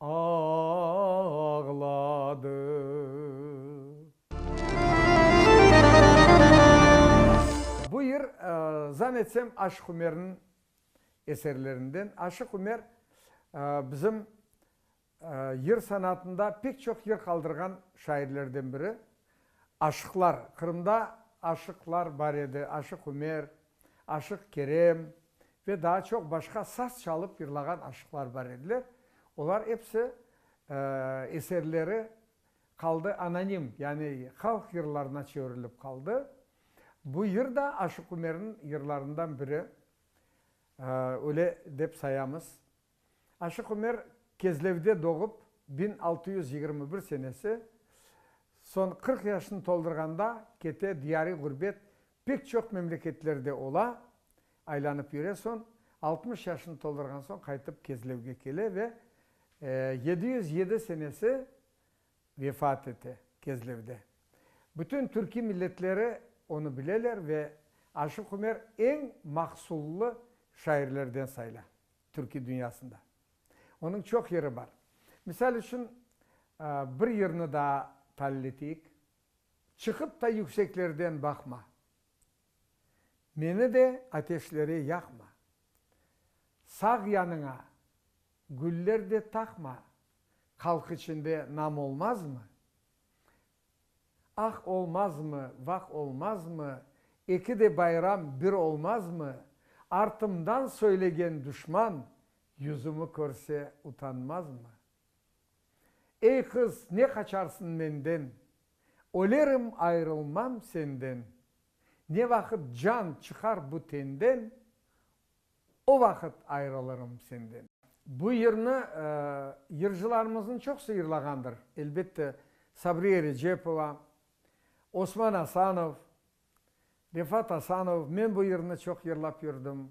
ağladı. Bu yır, zan etsem, Aşıq Ümerniñ eserlerinden. Aşıq Ümer, bizim yır sanatında pek çoq yır qaldırğan şairlerden biri. Aşıqlar, Qırımda aşıqlar bar edi, Aşıq Ümer, Aşıq Kerem ve daa çoq başqa saz çalıp yırlağan aşıqlar bar ediler, olar episi eserleri qaldı anonim, yani halq yırlarına çevirilip qaldı. Bu yır da Aşıq Ümerniñ yırlarından biri, öyle dep sayamız. Aşıq Ümer Kezlevde doğıp, biñ altı yüz yigirmi bir senesi, soñ qırq yaşını toldurğanda kete, diyar-i ğurbet pek çoq memleketlerde ola, aylanıp yüre, soñ altmış yaşını toldurğan soñ qaytıp Kezlevge kele ve yedi yüz yedi senesi vefat ete Kezlevde. Bütün türkiy milletleri onı bileler ve Aşıq Ümer eñ mahsullı şairlerden sayla. Türkiy dünyasında onıñ çoq yeri bar. Misal içün, bir yerni daa talil eteyik, Çıqıp da yükseklerden baqma, Meni de ateşlere yaqma, Sağ yanıña güller de taqma, Qalq içinde nam olmazmı? Ah olmazmı, vah olmazmı, Eki de bayram bir olmazmı, Artımdan söylegen duşman, Yüzümi körse utanmazmı? Ey qız, ne qaçarsın menden, Ölerim ayrılmam senden, Ne vaqıt can çıqar bu tenden, O vaqıt ayırılırım senden. Bu yırnı yırcılarımıznıñ çoqusı yırlağandır, elbette, Sabriye Recepova, Osman Asanov, Refat Asanov, men bu yırnı çoq yırlap yürdim.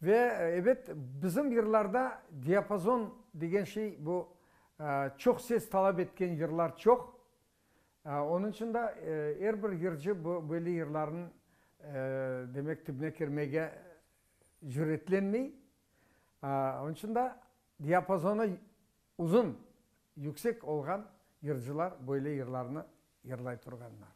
Ve, ebet, bizim yırlarda diapazon degen şey, bu çoq ses talap etken yırlar çoq, Onıñ içün de er bir yırcı bu belli yırlarnıñ, demek, tübüne kirmege cüretlenmey. Onıñ içün de diapazonı uzun, yüksek olğan yırcılar böyle yırlarnı yırlay turğanlar.